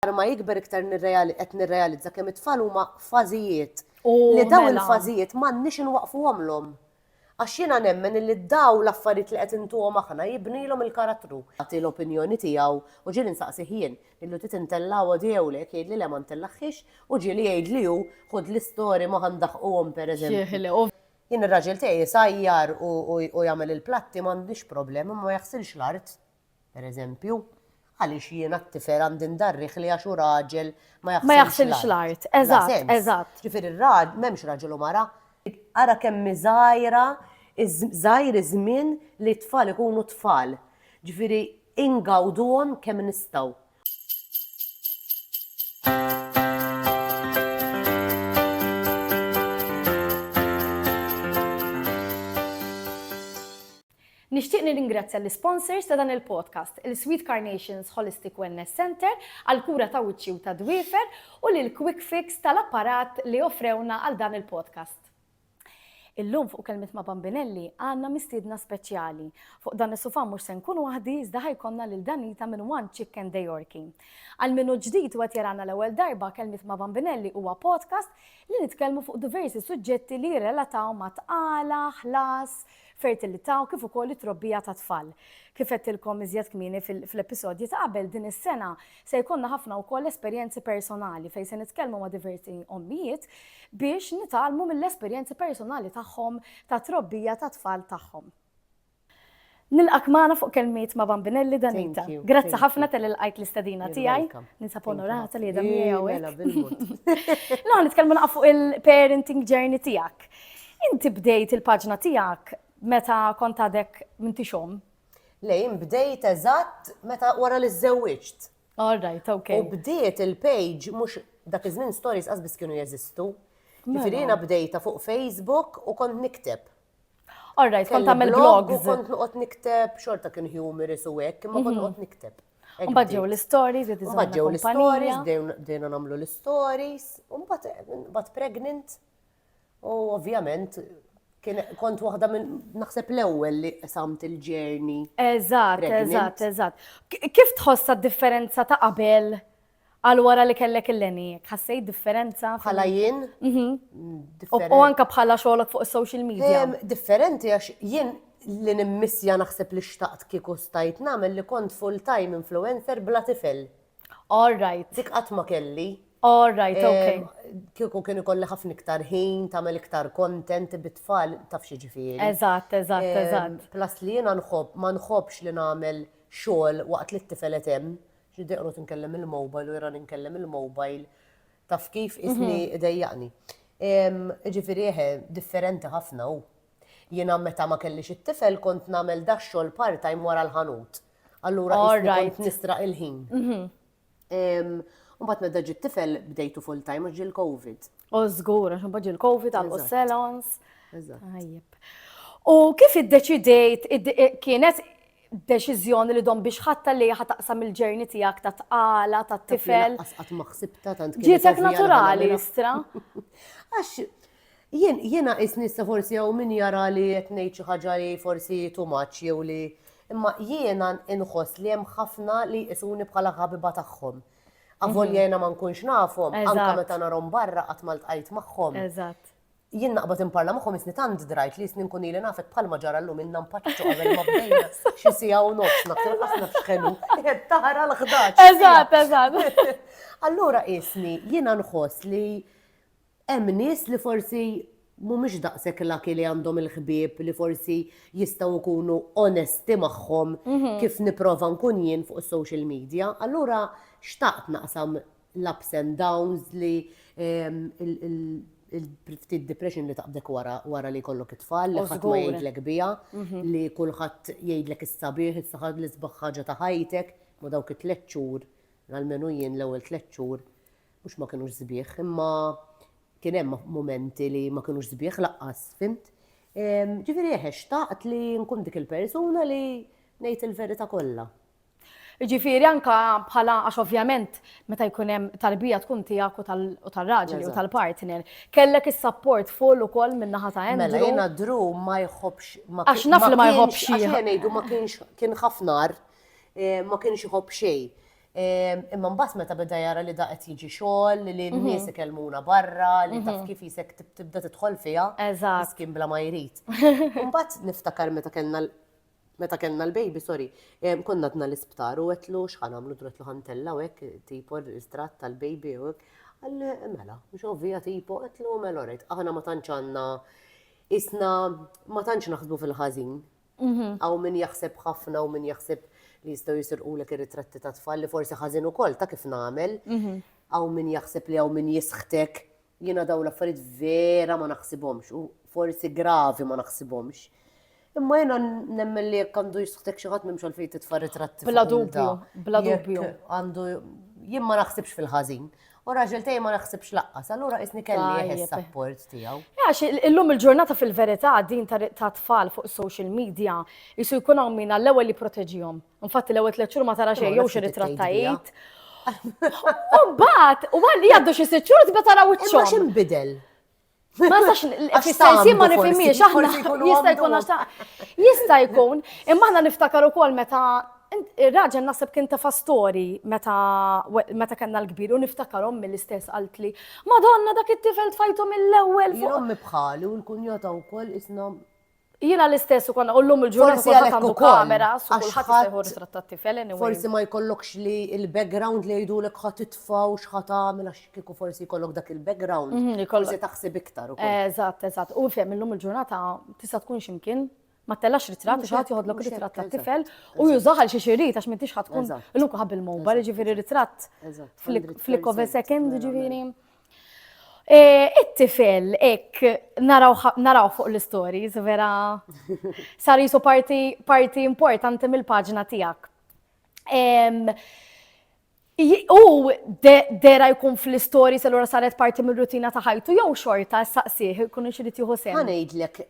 Aktar ma jikber iktar qed nirrealizza kemm it-tfal huma fażijiet. U mela. Li dawn il-fażijiet m'għandniex inwaqqfuhomlhom. Għax jiena nemmen illi dawn l-affarijiet li qed intuhom aħna jibnilhom il-karattru. Jagħti l-opinjoni tiegħu u ġieli nsaqsih jien, lillu trid intella' għoddi jew le, jekk jgħidli le ma ntellagħhiex u ġieli jgħidli hu, ħud l-istory ma ħa ndaħquhom pereżempju. Jien ir-raġel tiegħi jsajjar u jagħmel il-platti m'għandniex problema, imma ma jaħsilx l-art. Per eżempju, għaliex jiena t-tifel għandi ndarrih li għax hu raġel ma jaħsilx l-art? Ma jaħsilx l-art, eżatt, eżatt. Ġifieri r-raġel m'hemmx raġel u mara. Ara kemm hi żgħira, żgħir iż-żmien li t-tfal ikunu tfal. Ġifieri ingawduhom kemm nistgħu. Nixtieq nirringrazzja l-isponsors ta' dan il-podcast, il-Sweet Carnations Holistic Wellness Centre għall-kura ta' wiċċi u tad-dwiefer u lil Quick Fix tal-apparat li offrewna għal dan il-podcast. Illum fuq Kelmiet ma' Bambinelli għandna mistiedna speċjali. Fuq dan is-sufà mhux se nkun waħdi iżda ħa jkollna lil Danita minn One Chicken De Yorki. Għal min hu ġdid u qed jarana l-ewwel darba, Kelmiet ma' Bambinelli huwa podcast li nitkellmu fuq diversi suġġetti li jirrelataw ma' tqala, ħlas, fertilità u kif ukoll it-trobbija tat-tfal. Kif għedtilkom iżjed kmieni fl-episodji ta' qabel, din is-sena se jkollna ħafna wkoll esperjenzi personali fejn se nitkellmu ma' diversi ommijiet biex nitgħallmu mill-esperjenzi personali tagħhom tat-trobbija tat-tfal tagħhom. Nilqgħek magħna fuq Kelmiet ma' Bambinelli Danita. Grazzi ħafna talli lqajt l-istedina tiegħi. Ninsab onorata li qiegħda miegħi hawnhekk. Mela, bil-mod. Illum ħa nitkellmu naqra fuq il-parenting journey tiegħek. Inti bdejt il-paġna tiegħek meta kont għadek m'intix omm? Le, jien bdejt eżatt meta wara li żżewwiġt. All right, okay. U bdiet il-page mhux dak iż-żmien stories qas biss kienu jeżistu. Mela. Ġifieri jiena bdejta fuq Facebook u kont nikteb. All right, kont tagħmel Kelli blog blogs. U kont noqgħod nikteb xorta kien humorous u hekk, imma kont noqgħod nikteb. Hekk Mbagħad ġew bdiet. l-istories, bdiet iżomm Mbagħad ġew l-istories, kumpanija. bdejn- bdejna nagħmlu l-istories, u mbagħad eh, mbagħad pregnant. U ovvjament, kont waħda minn naħseb l-ewwel li samt il-ġerni. Eżatt, eżatt, eżatt. Kif tħossa differenza ta' qabel għal wara li kellek il-leni? Ħassejt differenza? Bħala jien? Mhm. U anka bħala xogħolok fuq is-social media. Differenti għax jien li nimmissja naħseb li xtaqt kieku stajt nagħmel li kont full-time influencer bla tifel. All right. Dik qatt ma kelli. All right, okay. Kieku kien ikolli ħafna iktar ħin, tagħmel iktar content bit-tfal taf xi ġifieri. Eżatt, eżatt, eżatt. Plus li jiena nħobb ma nħobbx li nagħmel xogħol waqt li t-tifel qed hemm, xi deqgħod inkellem il-mobile u jara ninkellem il-mobile taf kif isni mhm. idejjaqni. Ġifieri eħe, differenti ħafna hu. Jiena meta ma kellix it-tifel kont nagħmel dax xogħol part-time wara l-ħanut. Allura kont nistra il-ħin. Mhm. Umbat medda ġit tifel bdejtu full time ġil covid U zgur, għax umbat ġil covid għal salons. U kif id-deċidejt, kienet deċiżjoni li dom biex ħatta li ħataqsam il-ġerni tijak ta' tqala, ta' tifel. Għasqat maħsibta ta' Ġietek naturali, istra. Għax, Jien, jiena qisni issa forsi hawn min jara li qed ngħid xi ħaġa li forsi too much jew li, imma jiena inħoss li hemm ħafna li jqisuni bħala ħabiba tagħhom. Avolja jiena ma nkunx nafhom, anke meta narahom barra qatt ma ltqajt magħhom. Jien naqbad inparla magħhom isni tant drajt li isni nkun ili nafek bħalma ġara llum ilna npaċċu qabel ma bdejna xi siegħa u nofs naf tilqas naf x'ħelu qed tara l-ħdaġ. Eżatt, eżatt. Allura qisni jiena nħoss li Hemm nies li forsi mhumiex daqshekk lucky li għandhom il-ħbieb li forsi jistgħu jkunu onesti magħhom kif nipprova nkun jien fuq is-social media. Allura xtaqt naqsam l-ups and downs li ftit depression li taqbdek wara wara li jkollok it-tfal li ħadd ma jgħidlek biha, li kulħadd jgħidlek is-sabiħ, is-saħħa l-isbaħ ħaġa ta' ħajtek, ma dawk it-tliet xhur, almenu jien l-ewwel tliet xhur mhux ma kinux sbieħ, imma kien hemm momenti li ma kinux sbieħ laqqas, fimt? Ġifieri eħe eh, xtaqt li nkun dik il-persuna li ngħid il-verità kollha. Ġifieri anka bħala għax ovvjament meta jkun hemm tarbija tkun tiegħek u tal-raġel u tal-partner, kellek is-support full ukoll minn naħa ta' hemm. Mela jiena dru ma jħobbx ma Għax naf li ma jħobbx. Għax ngħidu ma kienx kien ħafnar eh, ma kienx iħobb xejn. Imma mbagħad meta beda jara li da qed jiġi xogħol, li n-nies ikellmuna barra, li taf kif jisek tibda tidħol fiha. Eżatt. Miskin bla ma jrid. Mbagħad niftakar meta kellna meta kellna l-baby, sorry, konna dna l-isptar u għetlu xħan għamlu dretlu ħantella u għek tipo l-istrat tal-baby u għek. Għalli, mela, mux ovvija tipo, għetlu mela rejt, aħna ma tanċanna, isna ma tanċ naħsbu fil-ħazin, Hawn min jaħseb ħafna u min jaħseb li jistgħu jisirqulek ir-ritratti ta' tfal li forsi ħażin ukoll ta' kif nagħmel. Hawn min jaħseb li hawn min jisħtek. Jiena dawn l-affarijiet vera ma naħsibhomx u forsi gravi ma naħsibhomx. Imma jiena nemmen li jekk għandu jisħtek xi ħadd m'hemmx għalfejn titfa' ritratti. Bla dubju, bla dubju. Għandu jien ma naħsibx fil-ħażin. U raġel tej ma naħsibx laqqas, allura isni kelli il-support tiegħu. Għax illum il-ġurnata fil-verità din ta' tfal fuq social media jisu jkun hawn min għall-ewwel li proteġihom. Infatti l-ewwel tliet xhur ma tara xejn jew xi ritrattajt. U mbagħad, u għalli għaddu xi sitt xhur tibda tara wiċċhom. Imma x'inbidel? Ma sax, fil-sensi ma nifimiex, aħna jista' jkun għax jista' jkun, imma aħna niftakar ukoll meta Ir-raġel nasib kien ta' fastori meta meta kellna l-kbir u niftakar ommi l-istess qalt li Madonna dak it-tifel tfajtu mill-ewwel fuq. Ommi bħali u l-kunjota wkoll isna Jiena l-istess u konna u l-lum il-ġurnata Forsi għalhekk għandu ukoll, kamera, su għax kulħadd jista' jħu ħadd- ritrattat tifel anyway. Forsi ma jkollokx li il-background li jgħidulek ħa titfa' u x'ħa tagħmel għax kieku forsi jkollok dak il-background. Mhm, li jkollok. Forsi taħseb iktar ukoll. Eżatt, eżatt. U fehem illum il-ġurnata tista' tkun x'imkien, ma tellax ritratt Mhux xi ħadd hekk, joħodlok mhux ritratt hekk, tat-tifel eżatt, u jużah għal xi xi jrid għax m'intix ħadd tkun Eżatt. illum kulħadd bil-mobile, Eżatt, jiġifieri ritratt Eżatt, f'lik- 100 f'lik of a pixels, second, vera, jiġifieri. Eh, it-tifel, ek, naraw fuq l-stories, vera, sar jisu parti importanti mill-paġna tijak. U dera jkun fl-stories l-għura saret parti mill-rutina taħajtu, jow xorta s-saqsiħ, kun xirrit juhu sen. Għanajdlek,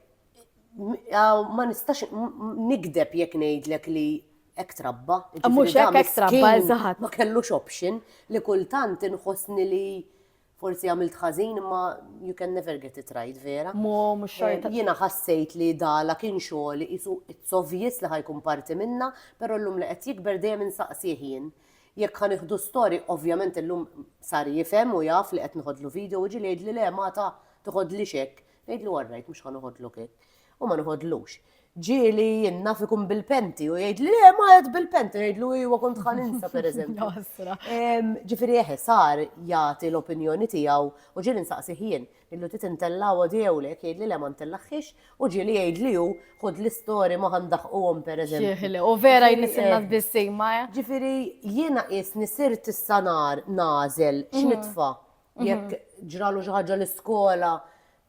ma nistax nikdeb jekk ngħidlek li ek trabba. Mhux hekk hekk trabba eżatt. Ma kellux option li kultant inħossni li forsi għamilt ħażin imma you can never get it right vera. Mo mhux eh, xorta. Jiena ħassejt li dala kien xogħol isu it's obvious li ħajkun parti minna, però llum li qed jikber dejjem insaqsih jien. Jekk ħan iħdu story, ovvjament illum sar jifhem u jaf li qed nħodlu video u ġili li le ma ta' tħodli xek. Ngħidlu all right mhux ħa noħodlu kik. U ma noħodlux. Ġieli jien naf ikun bil-penti u jgħidli le ma qed bil-penti ngħidlu iwa kont ħa ninsa pereżempju. Ġifieri eħe sar jagħti l-opinjoni tiegħu u ġieli nsaqsih jien illu trid intella' għodi jew le jgħidli le ma ntellaħħiex u ġieli jgħidli hu ħud l-istori ma ħa ndaħquhom pereżempju. Ġieli, u vera jnissilna f'bissima. Ġifieri jiena qiesni sirt issa nar nagħżel x'nitfa' Jekk ġralu xi ħaġa l-iskola,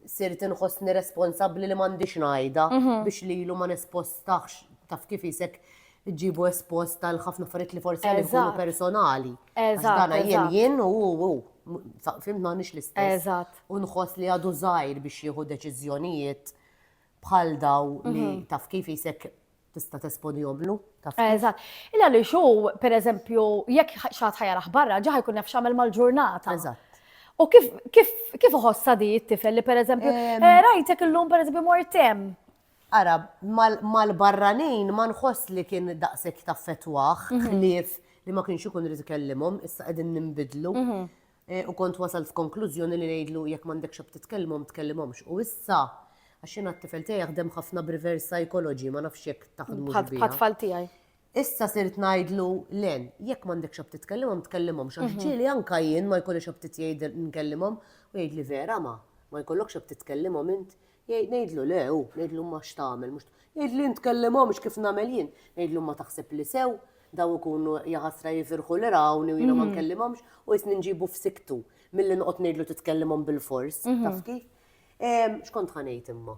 sirt inħossni responsabbli li m'għandix ngħidha biex lilu ma nespostax taf kif isek ġibu espost tal ħafna affarijiet li forsi għal ikunu personali. Eżatt. Jien jien u u fimt m'għandix l-istess. Eżatt. U nħoss li għadu żgħir biex jieħu deċiżjonijiet bħal daw li mhm. taf kif jisek tista' tesponihom lu. Eżatt. Illa li xu, per eżempju, jekk xaħat ħajaraħ barra, ġaħ jkun nafx għamel mal-ġurnata. Eżatt. U kif kif kif uħossa di t-tifel li per eżempju, eh, rajtek illum per eżempju mortem. Ara, mal-barranin ma nħoss li kien daqsek ta' fetwaħ, mhm. ħlief li ma kienx ikun rizikellimhom, issa qegħdin nimbidlu. Mhm. U kont wasalt f'konklużjoni li ngħidlu jekk m'għandekx xogħol titkellmhom, tkellimhomx. U issa, għax jiena t-tifel tiegħi jaħdem ħafna b'reverse psychology, ma nafx jekk taħdmux biha. Bħat-tfal tiegħi. Issa sirt ngħidlu, Len, jekk m'għandekx xogħol titkellmhom, tkellimhomx. Għax ġieli anke jien ma jkollix xogħol nkellimhom, u jgħidli, Vera, ma, ma jkollokx xogħol titkellimhom int? Jgħid, ngħidlu, le, hu, ngħidlu imma x'tagħmel, mhux, jgħid li ntkellimhomx kif nagħmel jien, ngħidlu imma taħseb li sew, daw ikunu jaħasra jifirħu li rawni u jiena ma nkellimhomx u jisni nġibu f'siktu milli noqgħod ngħidlu titkellimhom bil-fors, taf kif? X'kont ħanejt imma?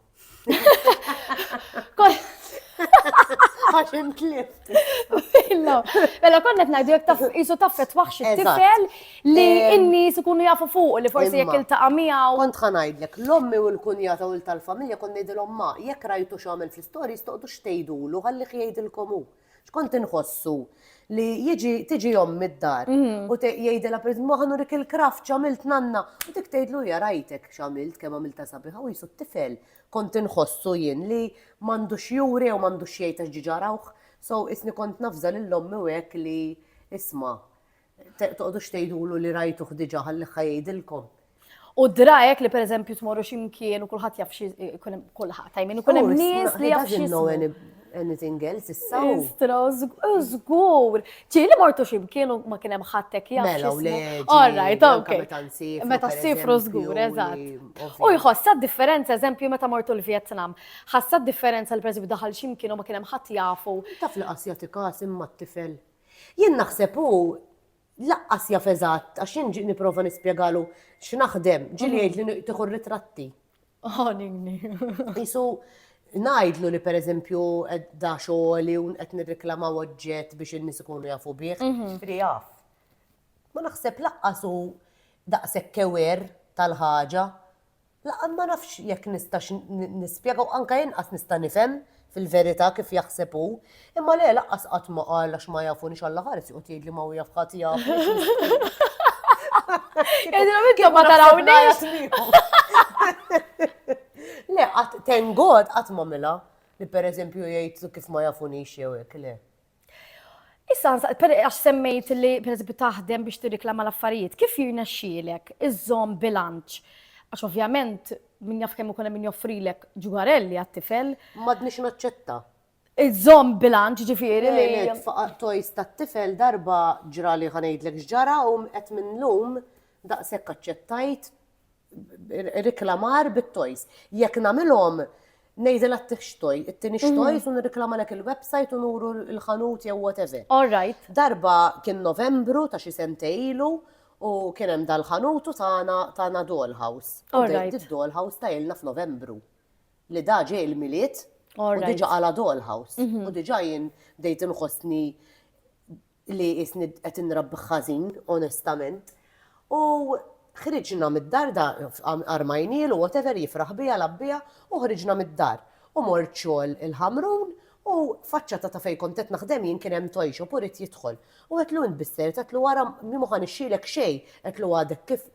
Għax intlift. Mela konna qed ngħidu jekk taf isu taffet waħx it-tifel Li n-nies ikunu jafu fuq li forsi jekk iltaqa' miegħu. Kont ħanajdlek, l-ommi u l-kunjata u l-tal-familja kont ngħidilhom ma, jekk rajtu x'għamel fl-istorji stoqgħodu x'tgħidulu ħallih jgħidilkom hu. X'kont inħossu li jiġi tiġi ommi d-dar u jgħidilha pereżempju ma ħanurik il-kraft x'għamilt nanna u dik tgħidlu hija rajtek x'għamilt kemm għamiltha sabiħa u qisu t-tifel kont inħossu jien li m'għandu x'juri jew m'għandu x'jgħid għax diġà rawh. So qisni kont navża lill-ommi u hekk li isma' Toqgħodux tgħidulu li rajtuh diġà ħallih ħa jgħidilkom. U drajek li pereżempju tmorru x'imkien u kulħadd jaf xi kulħadd, I mean ikun hemm nies li jaf xi anything else issa. Istra, żgur. Ġi li mortu x'imkien u ma kien hemm ħattek jaf. Mela, le. All right, okay. Meta ssifru żgur, eżatt. U jħossa differenza, eżempju, meta mortu l-Vjetnam. Ħassa differenza li pereżempju daħal x'imkien u ma kien hemm ħadd jafu. Taf li qas jagħti każ imma t-tifel Jien naħseb hu laqqas jaf eżatt għax jien ġiet nipprova nispjegalu x'naħdem, ġieli jgħidli tieħu ritratti. Ħanini. Isu ngħidlu li pereżempju da xogħli u qed nirriklamaw oġġett biex in-nies ikunu jafu bih, ġifieri jaf. Ma naħseb laqqas hu daqshekk kewer tal-ħaġa. Laqgħa ma nafx jekk nistax nispjega u anke inqas nista' nifhem fil-verità kif jaħseb hu. Imma le, lanqas qatt ma qal għax ma jafunix Alla ħares joqgħod jgħidli ma hu jaf ħadd jafni. Le, tengod qatt ma mela li pereżempju jgħid kif ma jafunix jew hekk le. Issa, għax semmejt li per taħdem biex tirriklama l-affarijiet, kif jirnexxielek iżżomm bilanċ? Għax ovvjament, min jaf kemm ikun min joffrilek ġugarelli għat-tifel. Madnix naċċetta. Iżżomm bilanċ ġifieri li. Faqaq tojs tat-tifel darba ġra li ħanejdlek x'ġara u qed minn lum daqshekk aċċettajt riklamar bit-toys. Jekk nagħmilhom Nejdi la t-tix toj, it-tini xtoj, sun reklama lek il-websajt u nuru l-ħanut jew whatever. All right. Darba kien novembru ta' xi sentejlu u kien hemm dal-ħanutu tagħna tagħna dollhouse. All right. Id-dollhouse ta' ilna f'novembru. Li da ġej il-miliet u diġa għala dollhouse. U diġa jien dejt inħossni li qisni qed inrabbih ħażin, onestament. U ħriġna mid-dar da, armajnielu whatever jifraħ bija l-abbija u ħriġna mid-dar. U mort xogħol il-Ħamrun u faċċata ta' fejn kont qed naħdem jien kien hemm toy shop u ried jidħol. U għedtlu int bissejret għedtlu ara mi m'hu ħa nixxilek xejn għedtlu għadek kif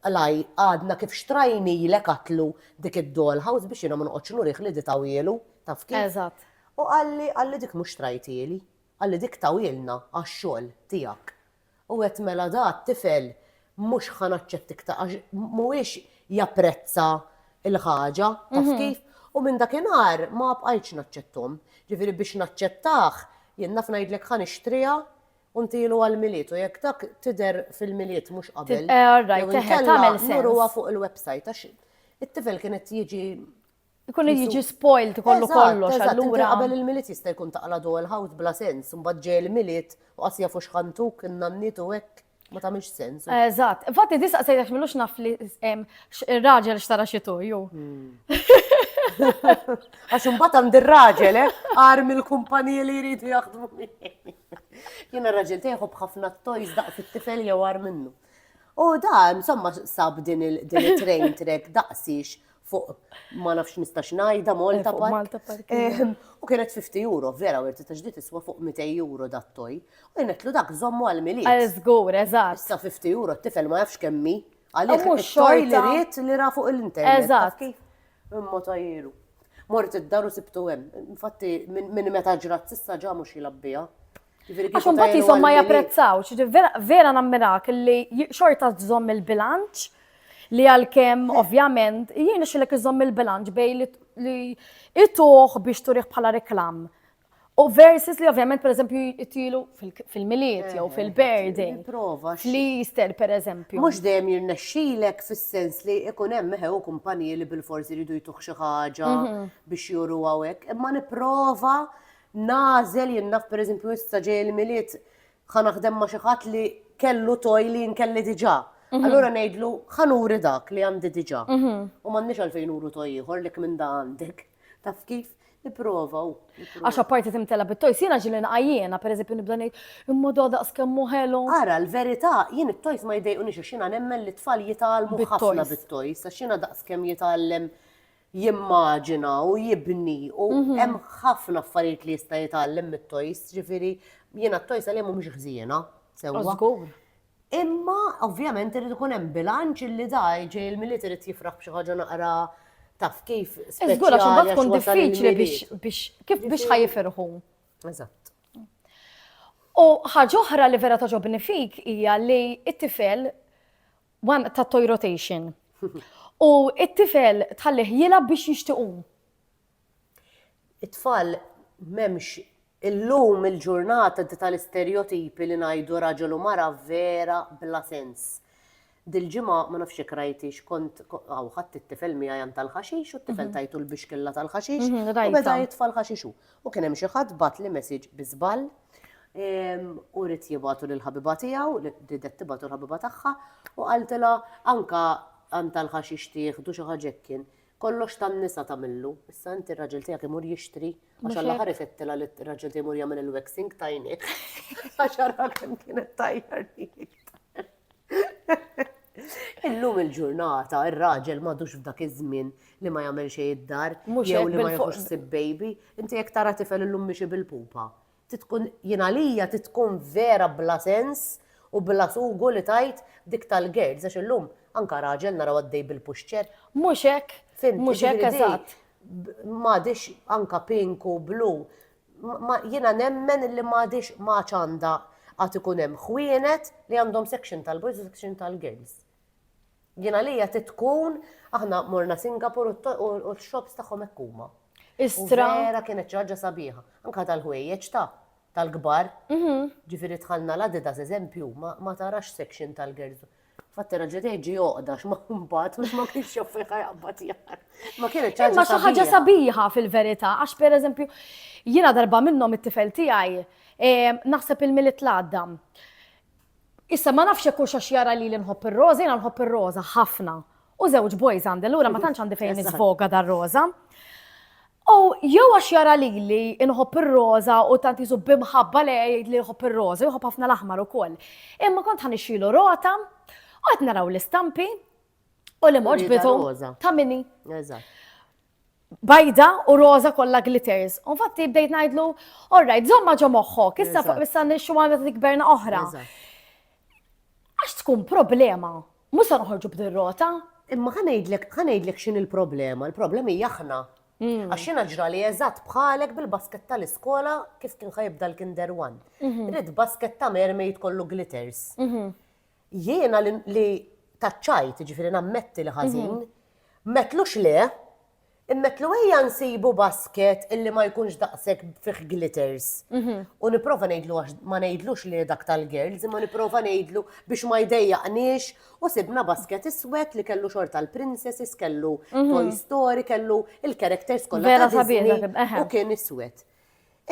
qlaj għadna kif xtrajnilek għedtlu dik id-doll house biex jiena ma noqgħodx nurih li di tawhielu taf kif. Eżatt. U qalli qalli dik mhux trajtieli. Qalli dik tawilna għax-xogħol tiegħek. U għedt mela da t-tifel mhux ħa naċċett iktar għax mhuwiex japprezza l-ħaġa, taf kif? U minn dakinhar ma bqajtx naċċetthom. Ġifieri biex naċċettah jien naf ngħidlek ħa nixtriha u ntilu għall-Milied u jekk dak tidher fil-Milied mhux qabel jew inkella nurruha fuq il-website għax it-tifel kien qed jiġi Ikun qed jiġi spoiled kollu kollox Eżatt, inti allura. qabel il-milied jista' jkun taqla do il-ħawt bla sens, imbagħad ġej il-milied u qas jafu x'ħantuk in-nanniet u hekk ma tagħmilx sens. Eżatt. Infatti tista' sejjax milux naf li em, x- ir-raġel xtara xi tuju. Għax imbagħad għand ir-raġel, eh, għar mill-kumpaniji li jridu jaħdmu miegħi. Jien ir-raġel tiegħi jħobb ħafna t-toys daqs it-tifel jew għar minnu. U da, insomma, sab din il- din it-train trek daqsix fuq ma nafx nistax ngħidha Malta eh, Park. Eh, u kienet 50 euro, vera werti ta' ġdid iswa fuq 200 euro dattoj. U jenetlu dak żommu għal mili. Għal żgur, eżatt. Issa 50 euro t-tifel ma jafx kemmi. Għaliex mhux xoj li ried li ra fuq l-internet. Eżatt. Imma tajru. Mort id-daru sibtu hemm. Infatti minn meta ġrat sissa ġa mhux jilabbiha. Għax mbagħad jisom ma japprezzawx, vera nammirak li xorta żomm il-bilanċ li għal-kem, ovvjament, jien xilek iżomm il-bilanċ bej li ituħ biex turiħ bħala reklam. U versus li ovvjament, per eżempju, jittilu fil-miliet jew eh, fil-birding. Prova. Li jister, per eżempju. Mux dejjem jirnexxilek fis-sens li ikun hemm meħew kumpaniji li bil-forsi jridu jtuħ xi ħaġa mhm. biex juru għawek. Imma nipprova nagħżel jien naf pereżempju issa ġej il-Milied ħa naħdem ma' xi ħadd li kellu toj li jien kelli diġà. Mhm. Allura ngħidlu ħa nuri dak li għandi diġà. Mhm. U m'għandniex għalfejn nuru toj ieħor li minn da għandek. Taf kif? Iprova u. Għax apparti timtela bit-tojs, jiena ġili nqajjena, per eżempju nibda ngħid, imma da daqs kemm ħelu. Ara, l-verità, jien it-tojs ma jdejqunix għax jiena nemmen li tfal jitgħallmu ħafna bit-tojs, għax jiena daqs kemm jitgħallem jimmaġina u jibni u mhm. hemm ħafna affarijiet li jista' jitgħallem mit-toys, ġifieri jiena t-toys għalihom mhumiex ħżiena sewwa. Imma ovvjament irid ikun hemm bilanċ li daj ġej il-miliet irid jifraħ b'xi ħaġa naqra taf kif. Iżgur għax imbagħad tkun diffiċli biex kif biex ħajifirħu. Eżatt. U ħaġa oħra li vera toġobni fik hija li t-tifel one ta' toy rotation. U it-tifel tħallih jilab biex jixtiqum. It-tfal memx illum il-ġurnata di tal-isterjotipi li najdu raġel u mara vera bla sens. Dil-ġimgħa ma nafx jekk rajtix kont għaw ħadd it-tifel miegħi għan tal-ħaxix u t-tifel mhm. tajtu l-bixkilla tal-ħaxix mhm, u beda jitfa' l-ħaxixu. U kien hemm xi ħadd batli message bi żball u rid jibgħatu lill-ħabiba tiegħu, ridet tibgħatu l-ħabiba tagħha u qaltilha anka għan tal-ħaxix tieħdu xi ħaġa hekk kien. Kollox tan-nisa tagħmillu. Issa inti r-raġel tiegħek imur jixtri għax għall-aħħar ifettilha li r-raġel tiegħi jmur jagħmel il-waxing tajni. Għax ara kemm kienet tajjar Illum il-ġurnata, ir-raġel madux f'dak iż-żmien li ma jagħmel xejn id-dar, jew li ma jħux sib baby, inti jekk tara tifel illum mixi bil-pupa. Titkun jien għalija titkun vera bla sens u bla sugu li tajt dik tal-girls għax illum anka raġel naraw għaddej bil-puxċer. Mhux hekk, mhux hekk eżatt. M'għadix anka pinku blu Jiena nemmen illi m'għadhiex ma għadx għandha għad ikun hemm ħwienet li għandhom section tal-boys u section tal-girls. Jien għalija trid tkun aħna morna Singapur u x-shops tagħhom hekk huma. Istra. Vera kienet xi ħaġa sabiħa. Anka tal-ħwejjeġ ta' tal-kbar. Mhm. Ġifieri tħallna l-Adidas eżempju ma tarax section tal-girls. Fatt era ġiet jgħid ġi għoqda x'ma mbagħad mhux ma kienx jaf fejn ħajqbad jar. Ma kienet ċaġa. Imma xi ħaġa sabiħa fil-verità għax pereżempju jiena darba minnhom it-tifel tiegħi ehm, naħseb il-milit l-għadda. Issa ma nafx hekk għax jara li nħobb ir-roża, jiena nħobb ir-roża ħafna. U żewġ boys għandi, allura ma tantx għandi fejn nisvoga dar-roża. U jew għax jara lili inħobb ir-roża u tant jisu b'imħabba li jgħid li jħobb ir-roża, jħobb ħafna l-aħmar ukoll. Imma kont ħa nixxilu rota u qed naraw l-istampi u li moġ bidu ta' minni. Bajda u roża kollha glitters. U fatti bdejt ngħidlu, orrajt, żomma ġo moħħok, issa fuq issa nixxu għandha tikberna oħra. Għax tkun problema Mhux se noħorġu b'derrota. Imma ħa ngħidlek, ħa ngħidlek x'in il-problema, il-problema hija aħna. Mm. Għax jiena ġrali eżatt bħalek bil-basket tal-iskola kif kien ħajibda l-kinder one. Mhm. Rid basket ta' mermaid kollu glitters. Mhm. Jiena li taċċajt, ġifieri nammetti li ħażin, mhm. metlux le, Immetlu ejja nsibu basket illi ma jkunx daqshekk fih glitters. U nipprova ngħidlu għax ma ngħidlux li dak tal-girls, imma nipprova ngħidlu biex ma jdejjaqniex u sibna basket iswed li kellu xorta l-princesses, kellu Toy Story, kellu il-characters kollha ta' Disney u kien iswed.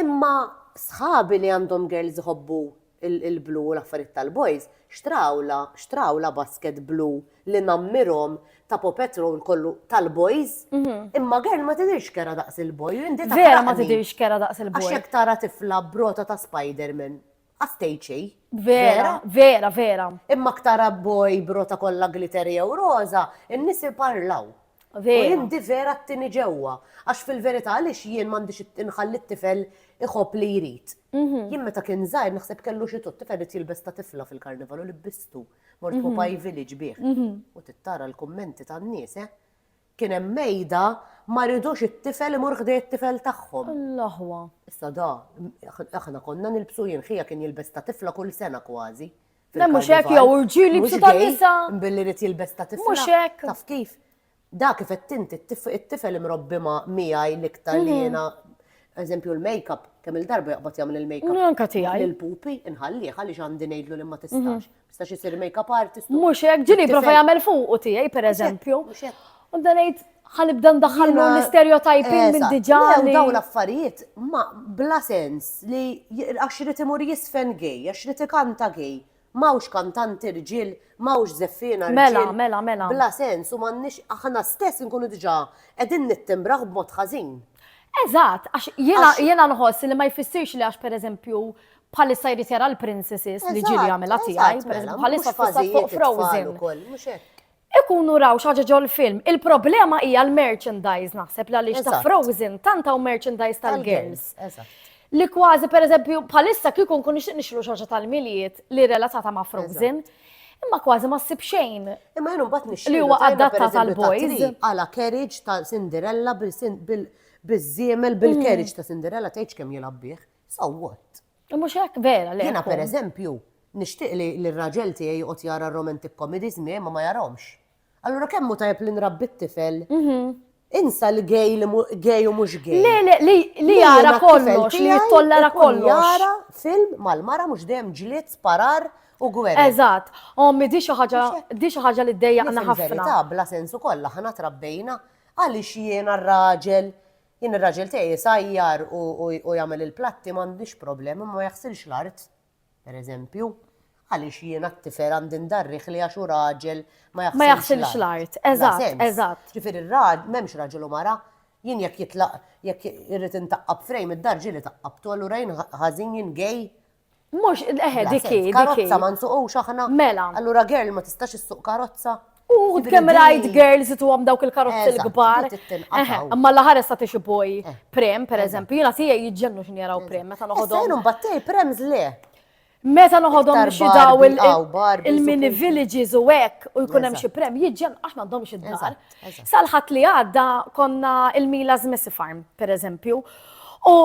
Imma sħabi li għandhom girls iħobbu l-blu u l-affarijiet tal-boys, xtrawlha, xtrawlha basket blu li nammirhom ta' Paw Patrol kollu tal-boys, imma girl ma tidhirx kerha daqs il-boy u inti taħraqni. Vera ma tidhirx kerha daqs il-boy. Għax jekk tara tifla b'rota ta' Spiderman. Għaftejċi. Vera, vera, vera. Imma ktar abboj brota kollha glitter jew roża, in-nies iparlaw. Vera. U jindi vera t-tini ġewwa. Għax fil-verità għaliex jien m'għandix inħalli t-tifel iħobb li jrid. Mhm. Jien meta kien żgħir naħseb kellu xi tot tifel jilbes ta' tifla fil-karnival u libbistu. Mort mhm. Popaj Village bih. Mhm. U tittara l-kummenti tan-nies, eh? Kien hemm mejda ma ridux it-tifel imur ħdej it-tifel tagħhom. L-aħwa. Issa da, aħna konna nilbsu jien ħija kien jilbes ta' tifla kull sena kważi. Le mhux hekk jew irġiel jilbsu ta' nisa. Billi rid jilbes ta' tifla. Mhux hekk. Taf kif? Da kif qed tinti it-tifel imrobbi ma' miegħi l-iktar li jiena eżempju l-makeup, kemm il-darba jaqbad jagħmel il-makeup. Anka tiegħi. Il-pupi inħallih għaliex għandi ngħidlu li ma tistax. Sta xi sir make-up artist. Mhux hekk, ġili prova jagħmel fuq u tiegħi pereżempju. U dan ngħid ħanibda ndaħħal l-istereotyping eh, minn diġà. Daw l-affarijiet ma bla sens li għax irid imur jisfen gej, għax irid ikanta gej. Mawx kantanti rġil, mawx zeffina rġil. Mela, mela, mela. Bla sens u m'għandniex aħna stess nkunu diġà qegħdin nittimbraħ b'mod ħażin. Eżatt, għax jiena nħoss li ma jfissirx li għax pereżempju Bħalissa jrid jara l-princesses li ġieli jagħmilha tiegħi, pereżempju bħalissa fissa fuq Frozen. Ikunu raw xaġa ġol film. Il-problema hija l-merchandise naħseb li għaliex ta' Frozen tant hawn merchandise tal-girls. Li kważi pereżempju bħalissa kieku nkun nixtieq nixlu xaġa tal-miliet li relatata ma' Frozen. Imma kważi ma ssib xejn. Imma jenu mbagħad nixtieq. Li huwa adatta tal-boys. Għala carriage ta' Cinderella bil-żiemel bil-carriage ta' Cinderella tgħidx kemm jilgħab bih. So what? Mhux hekk vera li. Jiena pereżempju nixtieq li l-raġel tiegħi joqgħod jara romantic comedies miegħi ma ma jarahomx. Allura kemm hu tajjeb li nrabbi t-tifel? Mhm. Insa li gej li gej u mhux gej. Le le li li jara kollox, li jittollara kollox. Jara film mal-mara mhux dejjem ġlied sparar u gwerra. Eżatt. Ommi di xi ħaġa di xi ħaġa li ddejjaqna ħafna. Bla sensu kollha ħana trabbejna għaliex jiena r-raġel Jien ir-raġel tiegħi jsajjar u jagħmel il-platti m'għandix problema, imma ma jaħsilx l-art, per eżempju. Għaliex jiena t-tifel għandi ndarrih li għax hu raġel ma jaħsilx l-art? Ma jaħsilx l-art, eżatt, eżatt. Ġifieri r-raġel, m'hemmx raġel u mara, jien jekk jitlaq, jekk irrid intaqqab frame, id-dar ġieli taqqabtu, allura jien ħażin, jien gay? Mhux, eħe, dik hi, dik Karozza ma nsuqux aħna. Mela. Allura girl ma tistax issuq karozza. U kemm rajt girls tu għam dawk il-karozzi l-kbar. Imma l-ħares ta' tixi boj eh. prem, per eżempju, jina tija jġennu xin jaraw prem, meta noħodhom. Sejnu mbattej prem zle. Meta noħodhom xi daw il-mini villages u hekk u jkun hemm xi prem, jiġġen aħna għandhom xi dar. Sal-Ħadd li għadda konna il-Mila's Messy Farm, pereżempju, u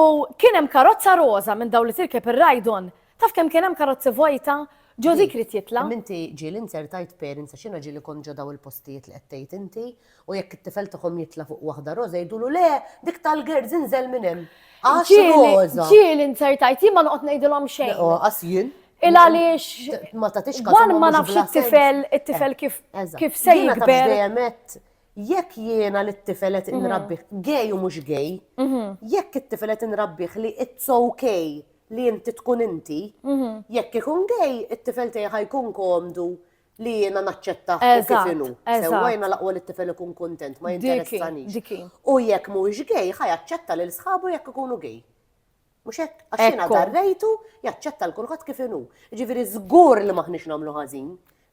kien hemm karozza roża minn dawn li tirkeb ir-rajdon. Taf kemm kien hemm karozzi vojta? Ġożi krid jitla'. Minti ġieli inzertajt parents għax jiena ġieli kont ġo daw il-postijiet li qed tgħid inti, u jekk it-tifel tagħhom jitla' fuq waħda roża jgħidulu le, dik tal-girls inżel minn hemm. Għax roża. Ġieli inzertajt, jien ma noqgħod ngħidilhom xejn. Lanqas jien. Il għaliex. Ma tatix każ. Wan ma nafx it-tifel, it-tifel eh, kif kif se jikber. Jekk jiena li t-tifel qed mhm. inrabbih gej u mhux gej, mhm. jekk it-tifel qed inrabbih li it's okay li inti tkun inti, mhm. jekk ikun gej, it-tifel tiegħi ħajkun komdu li jiena naċċetta u kif inhu. Sewwajna laqwa li t-tifel ikun kontent, ma jinteressanix. U jekk mhuwiex gej, ħajaċċetta lil sħabu jekk ikunu gej. Mhux hekk? Għax jiena darrejtu jaċċetta l kulħadd kif inhu. Ġifieri żgur li maħniex nagħmlu ħażin.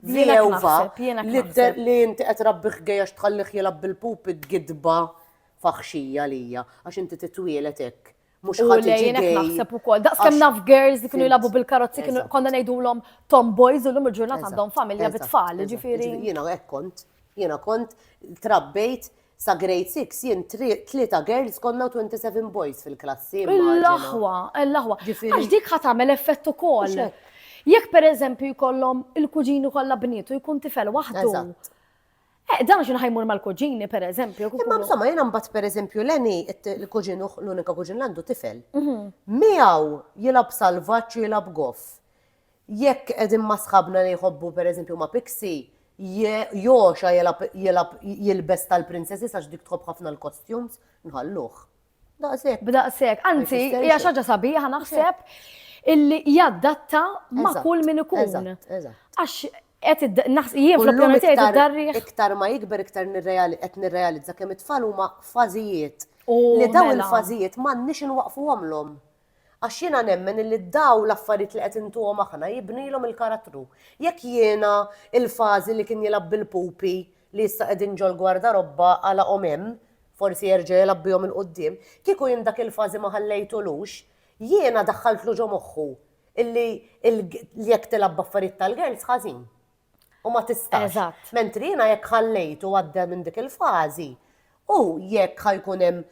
Vjewva li inti qed rabbi ħgejja tħallih jilab bil-pupi gidba faħxija lija għax inti titwielet hekk. Mux ħaġġin naħseb ukoll. Daqs kemm naf girls li kienu jilabu bil-karozzi kienu konna ngħidulhom tomboys u l-lum il-ġurnata għandhom familja bit-tfal, ġifieri. Jiena hekk kont, jiena kont trabbejt Sa grade six jien tlieta girls konna u twenty seven boys fil-klassi. L-aħwa, l-aħwa. Għax dik ħa tagħmel effett ukoll. Jekk pereżempju jkollhom il-kuġini kollha bniet u jkun tifel waħdu. Eh, dan xi ħajmur mal-kuġini pereżempju. Imma insomma jiena mbagħad pereżempju Leni il-kuġin l-unika kuġin l għandu tifel. Mhm. Miegħu jilab salvaġġ jilab goff. Jekk qegħdin ma' sħabna li jħobbu pereżempju ma' Pixie, Josha jilgħab jilbes tal-princesses għax dik tħobb ħafna l-costumes, nħalluh. Daqshekk. B'daqshekk. Anzi, hija xi ħaġa sabiħa naħseb illi jaddatta ma' kull min ikun. Eżatt, eżatt. Għax qed jien fl-opinjoni tiegħi darriħ. Iktar ma jikber iktar qed nirrealizza kemm it-tfal huma fażijiet. Li dawn il-fażijiet m'għandniex inwaqqfuhomlhom. Għax jiena nemmen illi dawn l-affarijiet li qed intuhom aħna jibnilhom il-karattru. Jekk jiena l-fażi li kien jilgħab bil-pupi li issa qegħdin ġol-gwardarobba għalaqhom hemm, forsi jerġa' jilgħab bihom 'il quddiem, kieku jien dak il-fażi ma ħallejtulux, jiena daħħaltlu ġo moħħu illi jekk tilgħab b'affarijiet tal-girls ħażin. U ma tistax. Mentri jiena jekk ħallejtu għadda minn dik il-fażi, hu jekk ħa jkun hemm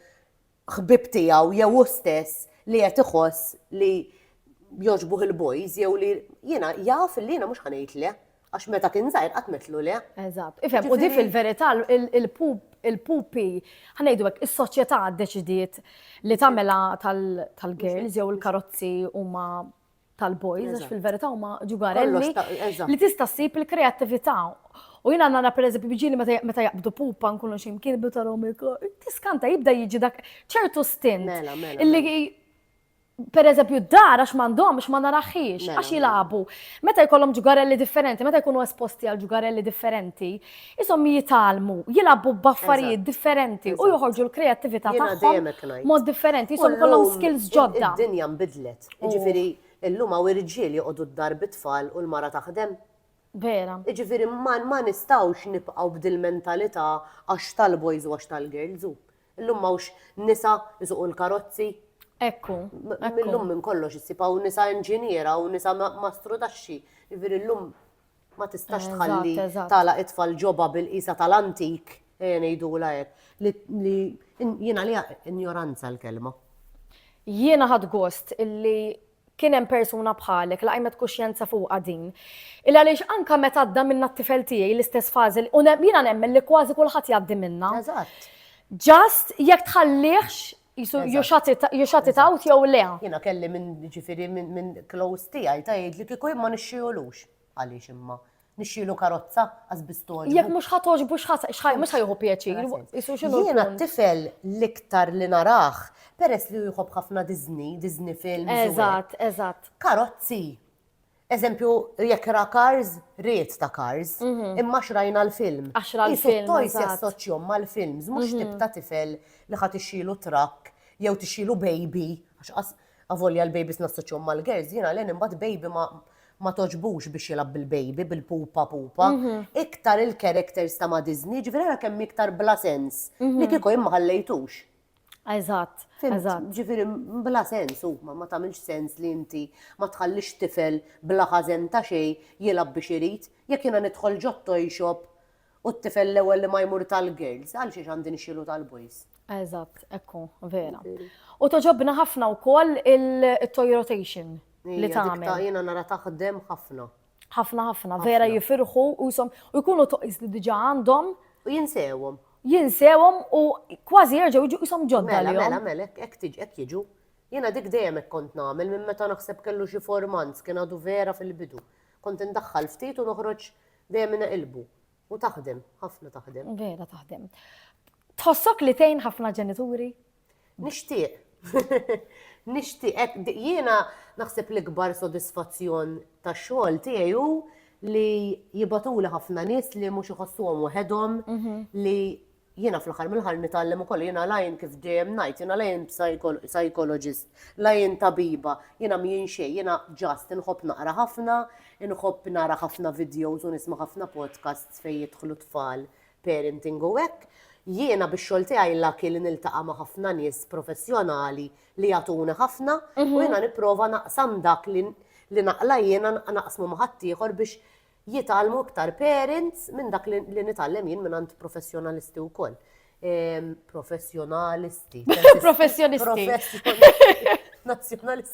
ħbieb tiegħu jew hu stess li qed iħoss li jogħġbuh il-boys jew li jiena jaf li jiena mhux ħa ngħid le. Għax meta kien żgħir qatt metlu le. Eżatt. Ifhem, u di fil-verità il-pupi, ħanejdu hekk, is-soċjetà ddeċidiet li tagħmilha tal-girls jew il-karozzi huma tal-boys, għax fil-verità huma ġugarelli li tista' ssib il-kreattività. U jina għanna per eżempju bġili meta jaqbdu pupa nkunu ximkien bita romiko, tiskanta jibda jiġi dak ċertu stint. Mela, mela, illi mela. per eżempju d-dar għax mandom għax ma naraħħiex, għax jilabu. Meta jkollhom ġugarelli differenti, meta jkunu esposti għal ġugarelli differenti, Ishom jitgħallmu, jilagħbu b'affarijiet differenti u joħorġu l-kreattività tagħhom mod differenti, ishom ikollhom skills ġodda. Id-dinja nbidlet, jiġifieri llum hawn irġiel joqogħdu d-dar bit-tfal u l-mara taħdem. Vera. Jiġifieri ma nistgħux nibqgħu b'dil-mentalità għax tal-boys u għax tal-girls hu. Illum m'hawnx nisa jsuqu l-karozzi. Ekku. Illum minn kollox issib hawn nisa inġiniera u nisa mastru taxxi. Jiġifieri llum Ma tistax tħalli tagħlaq it-tfal ġobha bil-qisha tal-antik, ejja ngħidulha hekk, li jiena li injoranza l-kelma. Jiena ħadt gost illi kien hemm persuna bħalek li qajmet kuxjenza fuqha din. Il għaliex anke meta għadda minna t-tifel tiegħi l-istess fażi u jiena nemmen li kważi kulħadd jgħaddi minna. Eżatt. Just jekk tħallihx Jisu, you shut it, you shut it out jew le. Jena kelli minn ġifiri minn close tijaj ta' jgħid li kiku imma nixxiolux. Għaliex imma? Nixxielu karozza għaz bistoġbu. Jek mux ħatoġ bux xħaj, mux ħajħu pieċir. Jena t-tifel liktar li narax, peress li jħob ħafna Disney, Disney films. Eżat, eżat. Karozzi. Eżempju, jekk ra Cars, riet ta' Cars, imma xrajna l-film. Għax ra l-film. Toys jassoċjom mal-films, mhux tip ta' tifel li ħadd ixxilu trakk jew tixxilu baby, għax avolja l-babies nassoċjom mal-girls, jiena len imbagħad baby ma toġbux biex jilgħab bil-baby, bil-pupa pupa. Iktar il-characters ta' ma' Disney, ġifieri ara kemm iktar bla sens li kieku jien ma ħallejtux. Eżatt, eżatt. Ġifieri bla sens huma ma tagħmilx sens li inti ma tħallix tifel bla ħażen ta' xejn jilgħab biex irid. Jekk jiena nidħol ġo t-toy shop u t-tifel l-ewwel li ma jmur tal-girls, għalxiex għandi nixxielu tal-boys? Eżatt, hekk hu, vera. U togħġobna ħafna wkoll il-toy rotation li tagħmel. Jiena nara taħdem ħafna. Ħafna ħafna, vera jifirħu u jisom u jkunu toqis li diġa għandhom. U jinsewhom. Jinsewhom u kważi jerġgħu jiġu jisom ġodda. Mela, mela, mela, hekk tiġi, hekk jiġu. Jiena dik dejjem hekk kont nagħmel minn meta naħseb kellu xi formant kien għadu vera fil-bidu. Kont indaħħal ftit u noħroġ dejjem inaqilbu. U taħdem, ħafna taħdem. Vera taħdem. Tħossok li tgħin ħafna ġenituri? Nixtieq. Nixtieq. Jiena naħseb l-ikbar sodisfazzjon ta' xogħol tiegħi hu li jibatuli ħafna nies li mhux iħossuhom waħedhom mhm. li jiena fl-aħħar mill-ħar nitgħallem ukoll jiena lajn kif dejjem ngħid, jiena lajn psychologist, lajn tabiba, jiena mjien xejn, jiena ġast inħobb naqra ħafna, inħobb nara ħafna videos u nisma' ħafna podcasts fejn jidħlu tfal parenting u hekk, jiena bix-xogħol tiegħi lucky li niltaqa' ma' ħafna nies professjonali li jagħtuni ħafna u jiena nipprova naqsam dak li li naqla jiena naqsmu ma' ħaddieħor biex jitgħallmu iktar parents minn dak li nitgħallem jien mingħand professjonalisti wkoll. Professjonalisti. Professjonisti. Professjonisti. Nazzjonalisti.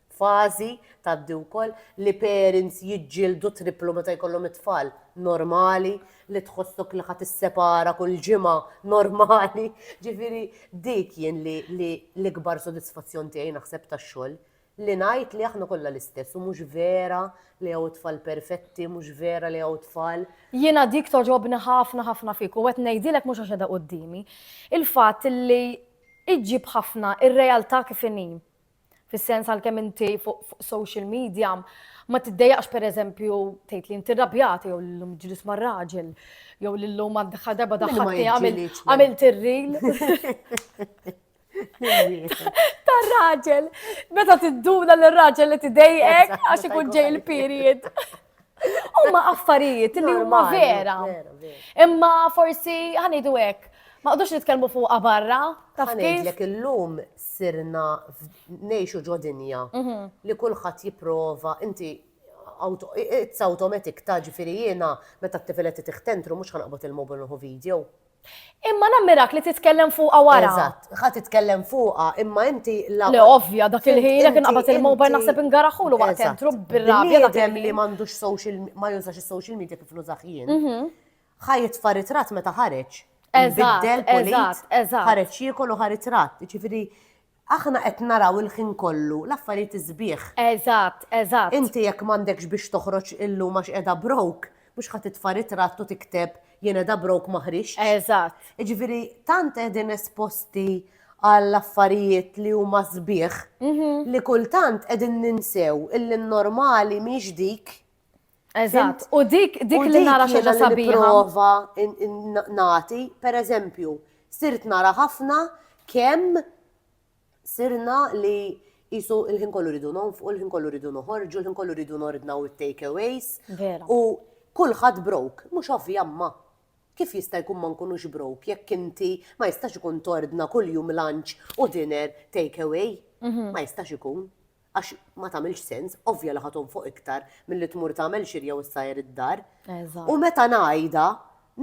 Fażi tgħaddi wkoll li parents jiġġieldu tripplu meta jkollhom it-tfal. Normali li tħossok li ħa tissepara kull ġimgħa, normali. Ġifieri dik jien li li l-ikbar sodisfazzjon tiegħi naħseb tax-xogħol, li ngħid li aħna kollha l-istess u mhux vera li hawn tfal perfetti, mhux vera li hawn tfal. Jiena dik togħġobni ħafna ħafna fik u qed ngħidilek mhux għax qiegħda quddiemi. Il-fatt li iġġib ħafna r-realtà kif inhi. Fis-sens għalkemm inti fuq social media ma tiddejaqx pereżempju tgħid li inti rrabjat jew l-lum ġlis mar-raġel jew l-lum għandha darba daħħalti għamil tirril. Tar-raġel, meta tidduna l-raġel li tidejqek għax ikun ġej il-period. Huma affarijiet li huma vera. Imma forsi ħanidu hekk. Ma qdux nitkellmu fuqha barra. Taf ngħidlek illum sirna ngħixu ġo dinja mhm. li kulħadd jipprova inti it's automatic ta' ġifieri jiena meta t-tifilet tiħtentru mhux ħanqbod il-mobil nħu video. Imma nammirak li titkellem fuqha wara. Eżatt, ħa titkellem fuqha, imma inti la. Le ovvja, dak il-ħin jekk inqabad il-mobile naħseb ingaraħulu waqt entru bir-rabja dak il-ħin. li m'għandux social ma jużax is-social media kif nużax jien. Mhm. Ħa jitfa' ritrat meta ħareġ. Eżatt, eżatt, eżatt. Ħareġ jiekol u ħaritrat, ġifieri Aħna qed naraw il-ħin kollu l-affarijiet is-sbieħ. Eżatt, eżatt. Inti jekk m'għandekx biex toħroġ illum għax qiegħda broke, mhux ħa titfa' ritratt u tikteb jien qiegħda broke ma ħriġtx. Eżatt. Jiġifieri tant qegħdin esposti għal affarijiet li huma sbieħ li kultant qegħdin ninsew illi n-normali mhix dik Eżatt, u dik dik li nara xi ħaġa sabiħa. Prova nati, per eżempju, sirt nara ħafna kemm sirna li jisu il-ħin kollu ridu nonfqu, il-ħin kollu ridu noħorġu, il-ħin kollu ridu nordnaw it-takeaways. U kulħadd brok, mhux ovvja ma. Kif jista' jkun ma nkunux brok jekk inti ma jistax ikun tordna kuljum lunch u dinner takeaway? Mhm. Ma jistax ikun. għax ma tagħmilx sens, ovvja li ħaton fuq iktar milli tmur tagħmel xirja u ssajr id-dar. U meta ngħidha,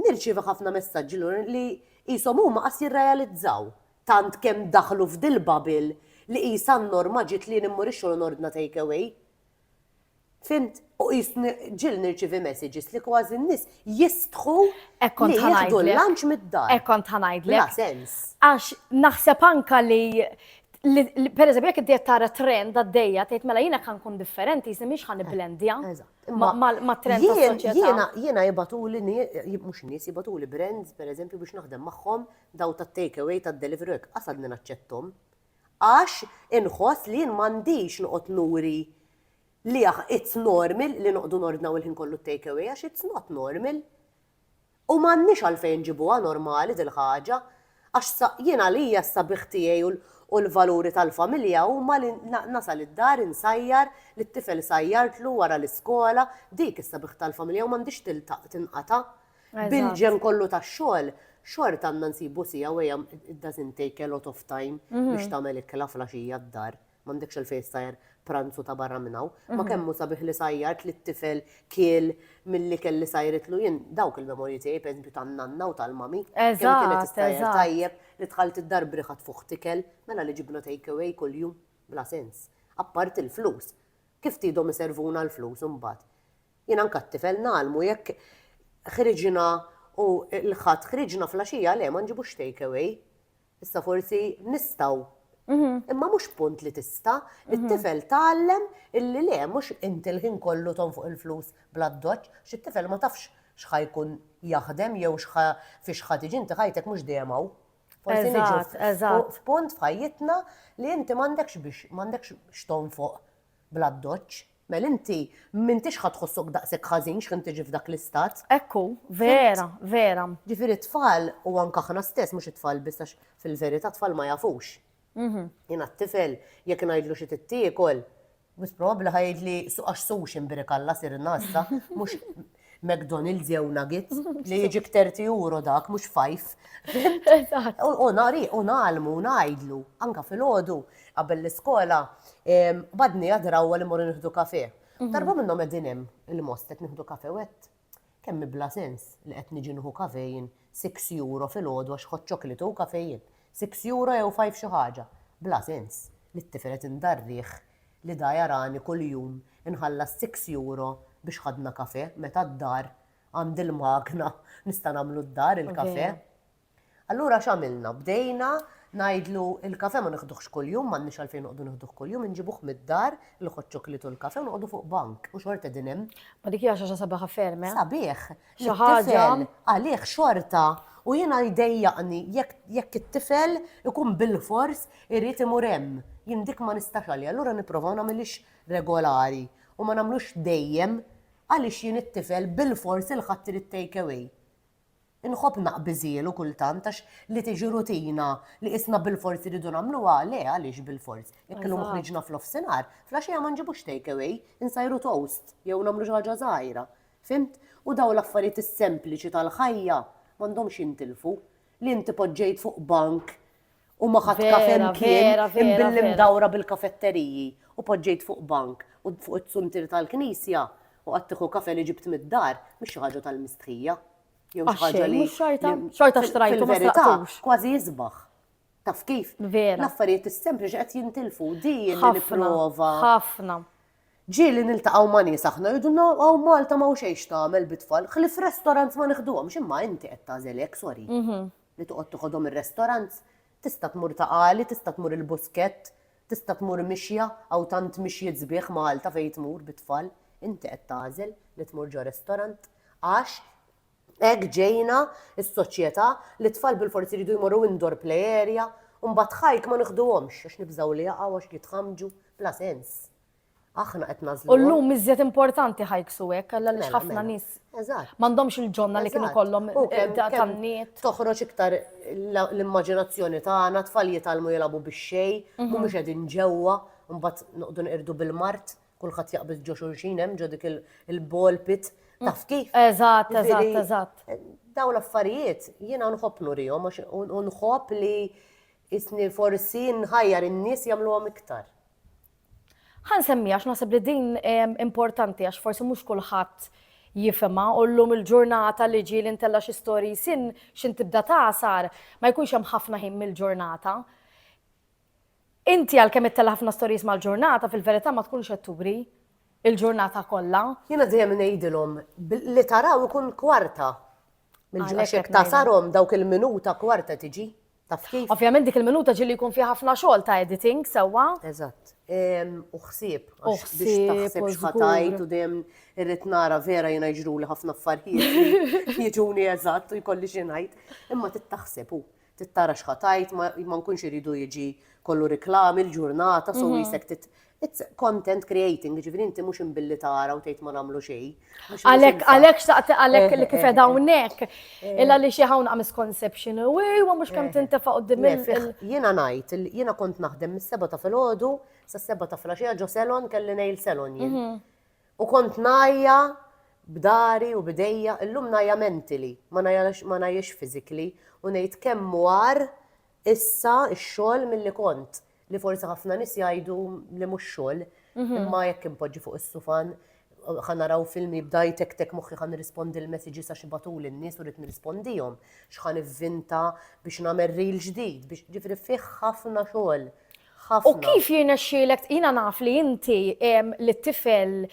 nirċievi ħafna messaġġi lura li qishom huma qas jirrealizzaw tant kemm daħlu f'dil-bubble li qisha n-norma ġiet li jien immur ix-xogħol u nordna takeaway. Fimt? U jisni ġil nirċivi messages li kważi n-nis jistħu li jieħdu l-lunch mid-dar. Ekkont ħanajd li. sens. Għax naħseb anka li per eżempju, jek id tara trend għaddejja, tgħid mela jiena kan kun differenti, jisni miex ħan blendja ma trend Jiena jiena jibatu li mhux nies jibatu li brands per eżempju biex naħdem magħhom daw ta' takeaway ta' delivery għasadni naċċettom. Għax inħoss li jien m'għandix noqgħod nuri li aħ, it's normal li noqgħdu nordnaw il-ħin kollu t-take away għax it's not normal. U m'għandniex għalfejn nġibuha normali dil-ħaġa. Għax sa, jien għalija s-sabiħ tiegħi u l-valuri tal-familja huma li nasal id-dar insajjar lit-tifel sajjartlu wara l-iskola, dik is-sabiħ tal-familja u m'għandhiex tiltaq, tinqata'. Bil-ġem kollu ta' xogħol, xort għandna nsibu sija u għajam it doesn't take a lot of time mhm. biex tagħmel ikla flaxija d-dar. M'għandekx il-fejn sajr pranzu ta' barra minnaw. Ma mhm. kemmu sabiħ li sajjart li t-tifel kiel mill-li kelli sajritlu jien dawk il-memorji tiegħi pereżempju tan-nanna u tal-mami. Eżatt. Kienet sajjar tajjeb li tħalt id-dar briħat fuq tikel mela li ġibna take away kuljum bla sens. Apparti l-flus. Kif tidhom iservuna l-flus imbagħad? Jien anke għat-tifel ngħallmu jekk ħriġna u l-Ħadd ħriġna flaxija le ma nġibux take away. Issa forsi nistgħu Mhm. Imma mhux punt li tista, mhm. it-tifel tgħallem illi le mhux inti l-ħin kollu ton fuq il-flus bla doċ, xit-tifel ma tafx x'ħa jkun jaħdem jew x'ħa fi x'ħa tiġi inti ħajtek mhux dejjem hawn. Forsi niġu f'punt f'ħajjitna li inti m'għandekx biex m'għandekx x'ton fuq bla doċ. Mela inti m'intix ħa tħossok daqshekk ħażin x'ħin tiġi f'dak l-istat. Hekk hu, vera, vera. Ġifieri t-tfal u anke aħna stess, mhux it-tfal biss għax fil-verità t-tfal ma jafux. Jiena t-tifel jekk ngħidlu xi trid tiekol, wis probabbli ħa jgħidli għax sushi mbirik Alla sirna issa, mhux McDonald's jew Nuggets li jiġik 30 euro dak mhux fajf. U nari u nagħlmu u ngħidlu anka fil-ħodu qabel l-iskola badni għadrawwa li morru nieħdu kafe. Mhm. Darba minnhom qegħdin hemm il-most qed nieħdu kafe wet. Kemm bla sens li qed niġi nieħu kafejn 6 euro fil-ħodu għax ħod ċoklitu kafejn. 6 euro jew 5 xi ħaġa. Bla sens li t-tifel qed indarriħ li da jarani kuljum inħallas six euro biex ħadna kafè meta d-dar għandi l-magna nista' nagħmlu d-dar il-kafè. Allura x'għamilna? Bdejna ngħidlu l-kafè ma nieħduhx kuljum, m'għandniex għalfejn noqogħdu nieħduh kuljum, inġibuh mid-dar, il-hot chocolate u l-kafè u noqogħdu fuq bank u xorta qegħdin hemm. Ma dik hija xi ħaġa sabiħa ferm, eh? Sabiħ! xi ħaġa għalih xorta u jiena jdejjaqni jekk it-tifel ikun bilfors irid imur hemm. Jien dik ma nistax għaliha, allura nipprova ma nagħmilhiex regolari u ma nagħmlux dejjem għaliex jien it-tifel bilfors il-ħadd irid take away. Inħobb naqbiżielu kultant għax li tiġi rutina li isna bil-forz iridu nagħmluha le għaliex bil-forz. Jekk illum ħriġna fl-offsinar, flaxija ma nġibux takeaway, insajru toast jew nagħmlu xi ħaġa żgħira. Fhimt? U dawn l-affarijiet is-sempliċi tal-ħajja m'għandhomx jintilfu. Li inti poġġejt fuq bank u ma ħadt kafe mkien, imbilli mdawra bil-kafetteriji u poġġejt fuq bank u fuq it-suntier tal-knisja u qgħadt tieħu kafe li ġibt mid-dar, mhix xi ħaġa tal-mistħija. Jew xi ħaġa li. Xorta xtrajtu ma xtrajtux. Kważi jisbaħ. Taf kif? Vera. L-affarijiet is-sempliċi qed jintilfu. Din nipprova. Ħafna. Ġieli niltaqgħu ma' nies aħna jgħidulna hawn Malta m'hawn xejn x'tagħmel bit-tfal, ħlief restaurants ma neħduhomx imma inti qed tagħżel hekk sorry. Li toqgħod tiħodhom ir-restaurants? Tista' tmur ta' għali, tista' tmur il-Buskett, tista' tmur mixja, hawn tant mixjiet sbieħ Malta fejn tmur bit-tfal, inti qed tagħżel li tmur ġo restaurant għax Hekk ġejna s-soċjetà li t-tfal bilfors iridu jmorru indoor play area u mbagħad hike ma niħduhomx għax nibżgħu li jaqgħu għax jitħammġu. Bla sens. Aħna qed nagħżluhom. U llum iżjed importanti hikes u hekk għaliex ħafna nies m'għandhomx il-ġonna li kienu jkollhom tan-niet. Toħroġ iktar l-immaġinazzjoni tagħna, t-tfal jitgħallmu jilagħbu bix-xejn, mhumiex qegħdin ġewwa, mbagħad noqogħdu nqirdu bil-mard. kulħadd jaqbel ġo xulxin hemm ġo dik il-ball pit mm. taf kif. Eżatt, eżatt, eżatt. Eh, daw l-affarijiet jiena nħobb nurihom għax nħobb li isni forsi nħajjar in-nies jagħmluhom iktar. Ħan semmi għax naħseb li din eh, importanti għax forsi mhux kulħadd jifema u l-lum il-ġurnata li ġi l-intella xi storji sin xin tibda tasar ma jkunx hemm ħafna ħin mill-ġurnata. Inti għalkemm ittella' ħafna stories mal-ġurnata, fil-verità ma tkunx qed turi l-ġurnata kollha. Jiena dejjem ngħidilhom li taraw ikun kwarta. Għax jekk tasarhom dawk il-minuta kwarta tiġi. Taf kif? Ovvjament dik il-minuta ġieli jkun fiha ħafna xogħol ta' editing sewwa. Eżatt. U ħsieb. U ħsieb. Biex taħseb x'ħatajt u dejjem irrid nara vera jiena jiġruli ħafna affarijiet. Jiġuni eżatt u jkolli xi ngħid. Imma tittaħseb u Trid tara x'ħa tgħid, ma nkunx iridu jiġi kollu riklami l-ġurnata, so wisek tit It's content creating, ġifiri inti mux imbilli tara u tgħid ma nagħmlu xejn. Għalek, għalek xaqt għalek li kif edha unnek. Illa li xi hawn misconception u ma mhux kemm tintefa' qudiem il Jiena ngħid, jiena kont naħdem mis-seba ta' filgħodu sa' seba ta' flaxija ġo selon kelli nail selon jien. U kont ngħajja b'dari u b'idejja, illum ngħajja mentally, ma ngħajjax physically u ngħid kemm hu agħar issa x-xogħol milli kont, li forsi ħafna nies jgħidu li mhux xogħol, imma jekk inpoġġi fuq is-sufan, ħa naraw film jibda jtektek moħħi ħa nirrispondi l-messages għax ibatuli n-nies u rrid nirrispondihom, x'ħa nivvinta biex nagħmel reel ġdid, jiġifieri fih ħafna xogħol. Ħafna. U kif jirnexxielek, jiena naf li inti li t-tifel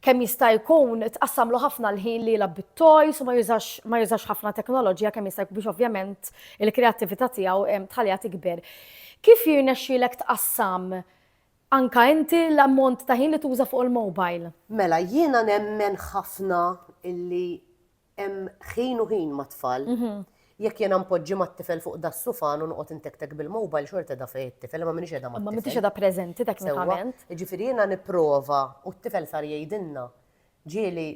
kemm jista' jkun tqassamlu ħafna l-ħin li jilgħab bit-toys u ma jużax ħafna teknoloġija kemm jista' jkun biex ovvjament il-kreattività tiegħu tħalliha tikber. Kif jirnexxielek tqassam anka inti l-ammont ta' ħin li tuża fuq il-mobile? Mela, jiena nemmen ħafna illi Hemm ħin u ħin mat-tfal. Jekk jiena npoġġi mat-tifel fuq da sufan u noqgħod intektek bil-mobile xorta da fejn it-tifel ma minix qiegħda mat-tifel. Ma minix qiegħda preżenti teknikament. Jiġifieri jiena nipprova u t-tifel sar jgħidilna ġieli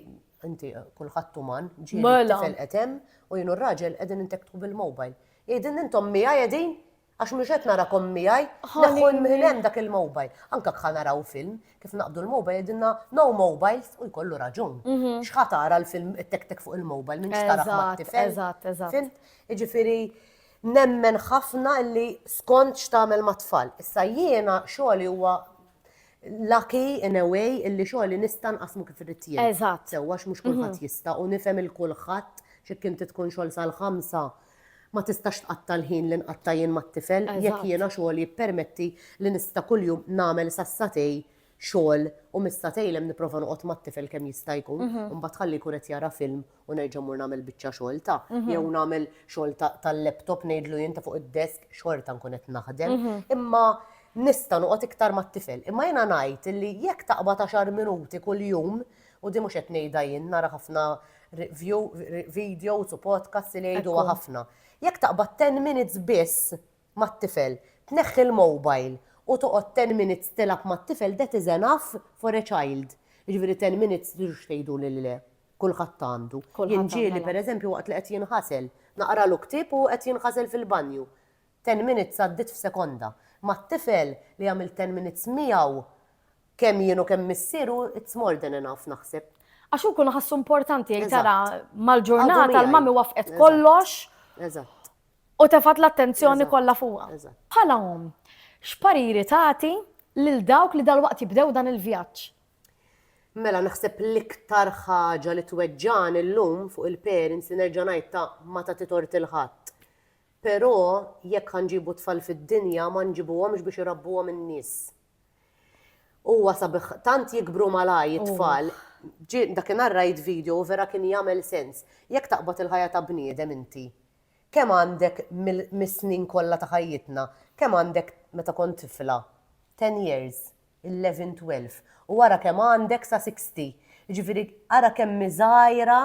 inti kulħadd uman, ġieli t-tifel qed hemm u jien u r-raġel qegħdin intektku bil-mobile. Jgħidilna intom miegħi qegħdin Għax mhux qed narakom miegħi, neħħu minn hemm dak il-mobile. Anke kħa naraw film, kif naqbdu l-mobile jgħidilna no mobiles u jkollu raġun. Mhm. X'ħa tara l-film tek-tek fuq il-mobile minn x'tara mat-tifel. Eżatt, eżatt. Jiġifieri nemmen ħafna li skont x'tagħmel mat-tfal. Issa jiena xogħli huwa lucky in a way illi xogħli nista' nqasmu kif irid jien. Eżatt. Sewwa mhux kulħadd mhm. jista' u nifhem il-kulħadd x'kien tkun xogħol sal-ħamsa Ma tistax tqatta' l-ħin li nqatta' jien mat-tifel jekk jiena xogħli jippermetti li nista' kuljum nagħmel sassatej xogħol u mis-satejn hemm nipprova noqgħod mat-tifel kemm jista' jkun u mbagħad ħalli jkun qed jara film u nerġa' mmur nagħmel biċċa xogħol ta' jew nagħmel xogħol tal-laptop ngħidlu jien ta' fuq id-desk xorta nkun qed naħdem imma nista' noqgħod iktar mat-tifel. Imma jiena ngħid li jekk taqbad għaxar minuti kuljum U din mhux qed ngħidha jien, nara ħafna view, videos u podcasts li jgħiduha ħafna. Jekk taqbad 10 minutes biss mat-tifel, tneħħi l-mobile u toqgħod 10 minutes tilgħab mat-tifel that is enough for a child. Jiġifieri 10 minutes tridux tgħidu li le, kulħadd għandu. Jien ġieli pereżempju waqt li qed jinħasel, naqralu ktieb u qed jinħasel fil-banju. Ten minutes għaddiet f'sekonda. Mat-tifel li għamilt ten minutes miegħu kemm jien u kemm missieru it's more than enough naħseb. Għax hu jkun ħassu importanti jgħid tara mal-ġurnata l-mami wafqet kollox. Eżatt. U tefat l-attenzjoni kollha fuqha. Bħala omm, x'pariri tagħti lil dawk li dalwaqt jibdew dan il-vjaġġ? Mela naħseb l-iktar ħaġa li tweġġani llum fuq il-parents li nerġa' ngħid ta' ma tagħti tort il-ħadd. Però jekk ħa nġibu tfal fid-dinja ma nġibuhomx biex irabbuhom in-nies. Huwa sabiħ tant jikbru malajr it-tfal. Dakinhar rajt video u vera kien jagħmel sens. Jekk taqbad il-ħajja ta' bniedem inti, kemm għandek mis-snin kollha ta' ħajjitna, kemm għandek meta kont tifla? Ten years. Eleven, twelve, u ara kemm għandek sa sixty. Jiġifieri ara kemm hi żgħira,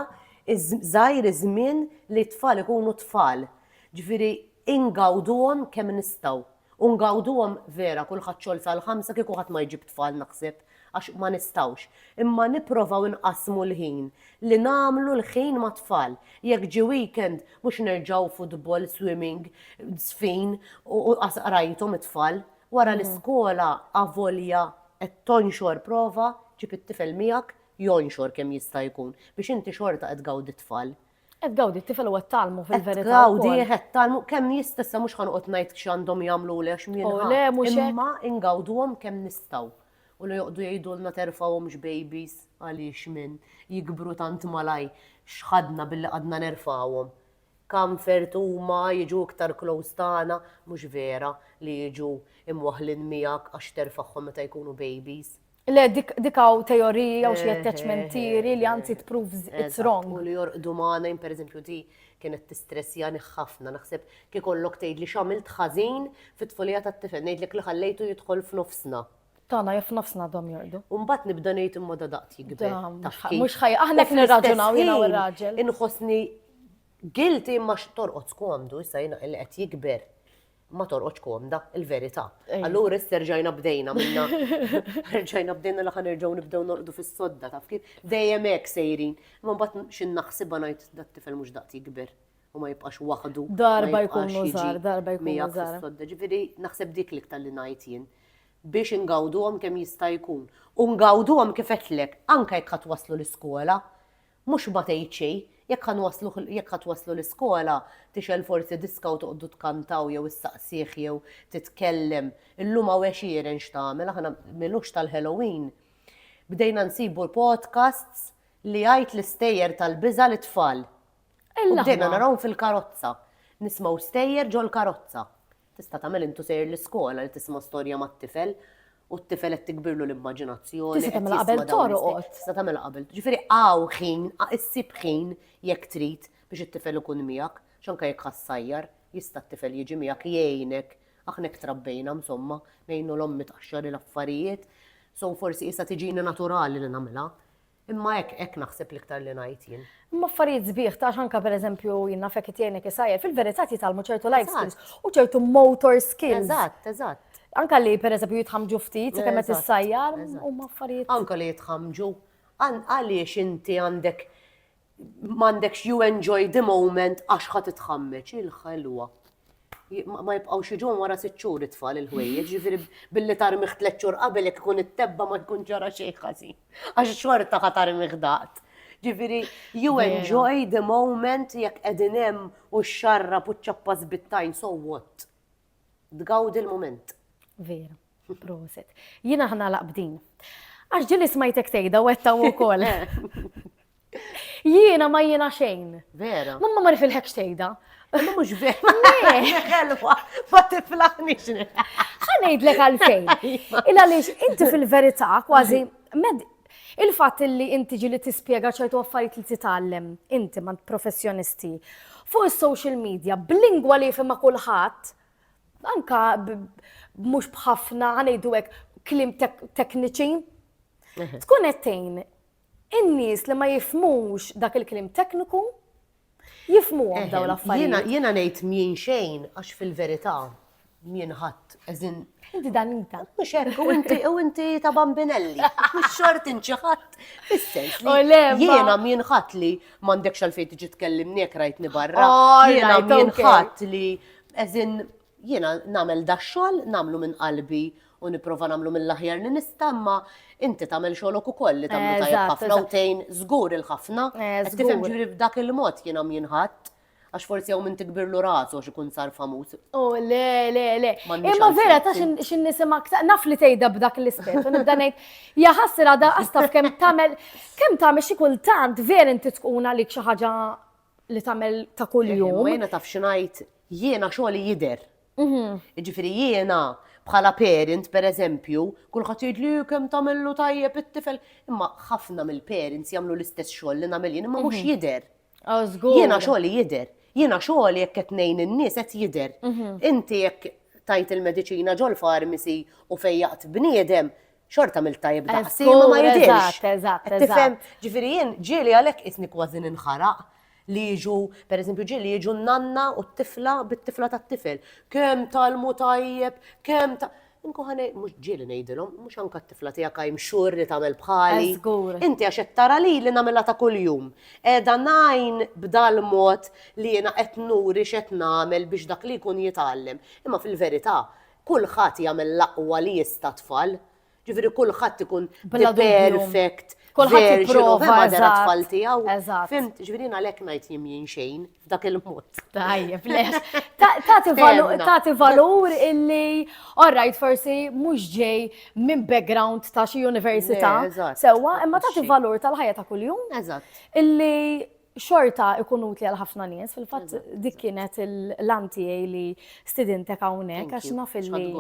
żgħir iż-żmien li t-tfal ikunu tfal. Jiġifieri ingawduhom kemm nistgħu. U ngawduhom vera kulħadd xogħol sal-ħamsa kieku ħadd ma jġib tfal naħseb għax ma nistgħux. Imma nipprovaw inqassmu l-ħin li nagħmlu l-ħin mat-tfal. Jekk ġie weekend mhux nerġgħu futbol, swimming, żfin u qas qrajthom it-tfal. Wara l-iskola avolja qed tonxor prova ġib it-tifel miegħek jonxor kemm jista' jkun biex inti xorta qed tgawdi t-tfal. Qed tgawdi t-tifel u qed tgħallmu fil-verità wkoll. Qed tgawdih, qed tgħallmu kemm jista' issa mhux ħa noqgħod ngħid x'għandhom jagħmluli għax min ħa. O le mhux hekk. Imma ingawduhom kemm nistgħu. U la joqgħdu jgħidulna terfgħuhomx babies għaliex min, jikbru tant malajr x'ħadna billi qgħadna nerfgħuhom. comfort huma jiġu iktar close tagħna mhux vera li jiġu imwaħħlin miegħek għax terfagħhom meta jkunu babies. Le dik dik hawn teoriji jew xi attachment theory li anzi tproves it's wrong. Eżatt, u li jorqdu magħna jien pereżempju di kienet tistressjani ħafna naħseb kiekollok tgħidli x'għamilt ħażin fit-tfulija tat-tifel ngħidlek li ħallejtu jidħol f'nofsna. Tagħna jew f'nofsna għadhom jorqdu. U mbagħad nibda ngħid imma da daqt jikber. Da, mhux taf ħaj- kif. mhux ħaj- aħna U qed nirraġunaw jiena u fl-istess r-raġel. ħin Inħossni guilty imma x- torqodx komdu, issa jiena li qed jikber. Ma torqodx komda, il-verità. Ej. Allura issa rġajna bdejna minna. Rġajna bdejna li ħanerġgħu nibdew norqdu fis-sodda taf kif. Dejjem hekk sejrin. Imma mbagħad xi naħsibha ngħid dat-tifel mhux daqt jikber. u ma jibqax waħdu. Darba jkunu żgħar, darba jkunu żgħar. Ġifieri naħseb dik l-iktar li ngħid jien biex ingawduhom kemm jista' jkun. U ngawduhom kif għedtlek, anke jekk ħadd waslu l-iskola, mhux ma tgħid xejn, jekk ħa nwaslu jekk ħa twaslu l-iskola, tixgħel forsi diska u toqgħodu tkantaw jew issaqsih jew titkellem. Illum hawn għexieren x'tagħmel, aħna milux tal-Halloween. Bdejna nsibu l-podcasts li jgħid l-istejjer tal-biża' lit-tfal. U bdejna narawhom fil-karozza. Nismgħu stejjer ġol-karozza. Tista' tagħmel intu sejjer l-iskola li tisma' storja mat-tifel u t-tifel qed tikbirlu l-immaġinazzjoni. Tista' tagħmilha qabel torqod. Tista' tagħmilha qabel. Ġifieri hawn ħin, issib ħin jekk trid biex it-tifel ikun miegħek, x'anke jekk ħa ssajjar, jista' t-tifel jiġi miegħek jgħinek. Aħna hekk trabbejna msomma, ngħinu l-ommi tqaxxar il-affarijiet. So forsi issa tiġini naturali li nagħmilha. Imma hekk, hekk naħseb l-iktar li ngħid jien. Imma affarijiet sbieħ, tax anka per eżempju jien nafek qed jgħinek isajjer, fil-verità jitgħallmu ċertu life skills u ċertu motor skills. Eżatt, eżatt. Anka li per eżempju jitħamġu ftit, se kemm qed issajjar, huma affarijiet. Anka li jitħamġu. Għaliex inti għandek m'għandekx you enjoy the moment għax ħa titħammeġ il-ħelwa. Ma jibqgħux jiġu wara sitt xhur it-tfal il-ħwejjeġ, ġifieri billi tarmiħ tliet xhur qabel jekk ikun it-tebba ma jkun ġara xejn ħażin. Għax xorta ħa tarmiħ daqt. Ġifieri you enjoy the moment jekk qegħdin hemm u x-xarra puċċappa żbittajn so what? tgawdi l-mument. Vera, proset. Jina ħna laqbdin. Għax ġili smajtek tejda u għetta u kol. Jiena ma jiena xejn. Vera. Mamma ma nifilħek xejda. Ma mux vera. Xelwa, ma tiflaħni xne. Ħanejdlek għalfejn. Illa li inti fil-verità kważi med Il-fatt li int tiġi li tispjega ċertu affarijiet li titgħallem inti mant professjonisti fuq is-social media b'lingwa li jifhimha kulħadd, anka mhux b'ħafna ngħidu hekk kliem tekniċi, tkun qed tgħin in-nies li ma jifmux dak il-kliem tekniku Jifmuhom dawn l-affarijiet. Jiena ngħid mjien xejn għax fil-verità mjien ħadd eżin. Inti danita. Mhux hekk u inti u inti ta' bambinelli. Mhux xort inti ħadd. Is-sens li jiena mjien ħadd li m'għandekx għalfejn tiġi tkellimni jekk rajtni barra. Jiena mjien ħadd li eżin Jiena nagħmel dax-xogħol, nagħmlu minn qalbi u nipprova nagħmlu mill-aħjar li nista' imma inti tagħmel xogħlok ukoll li tagħmlu tajjeb ħafna u tgħin żgur il-ħafna. Qed tifhem, ġifieri b'dak il-mod jiena m'jinħadd għax forsi hawn min tikbirlu rasu għax ikun sar famuż. O le, le, le. Imma vera ta' xi nisimak, naf li tgħidha b'dak l-ispett u nibda ngħid, ja ħassir għadha qastaf kemm tagħmel kemm tagħmel xi kultant vera inti tkun għalik xi ħaġa li tagħmel ta' kuljum. Jiena taf xi ngħid, jiena xogħli jidher. Jiġifieri jiena bħala parent pereżempju, kulħadd jgħidli kemm tagħmillu tajjeb it-tifel, imma ħafna mill-parents jagħmlu l-istess xogħol li nagħmel jien imma mhux jidher. Jiena xogħli jidher. Jiena xogħli jekk qed ngħin in-nies qed jidher. Inti jekk tajt il-mediċina ġol-farmisi u fejjaqt bniedem, xorta għamilt tajjeb daqsi, ma ma jidhirx. Eżatt, eżatt, eżatt. Tifhem, ġifieri jien ġieli għalhekk qisni kważi ninħaraq li jiġu, per eżempju, ġieli jiġu n-nanna u t-tifla bit-tifla tat-tifel. Kemm talmu tajjeb, kemm ta' Inku ħanej, mux ġieli nejdilom, mux anka t-tifla tijak għajm xur li tamel bħali. Inti għax tara li li namela ta' kull-jum. Edha najn b'dal mod li jena etnuri xet namel biex dak li kun jitallem. Imma fil-verita, kulħadd jagħmel l-aqwa li jista' tfal. Ġifieri kulħadd ikun the perfect version of mother tfal tiegħu. Fimt, ġifieri għalhekk ngħid jien jien xejn f'dak il-mod. Tajjeb, les. Tagħti valur illi orrajt forsi mhux ġej minn background ta' xi università. Sewwa, imma tagħti valur tal-ħajja ta' kuljum. Eżatt. Illi xorta ikun utli għal ħafna nies, fil-fatt dik kienet l-għan tiegħi li stidintek hawnhekk għax naf illi.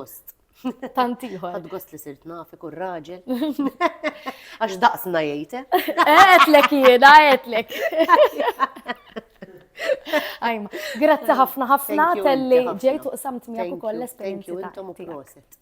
Tant ieħor. Ħad gost li sirt naf ikun raġel. Għax daqsna jgħid. Għetlek eh? jiena, għetlek. Ajma, grazzi ħafna ħafna telli ġejtu u samt miegħek ukoll l-esperjenza. Thank you, intom u proset.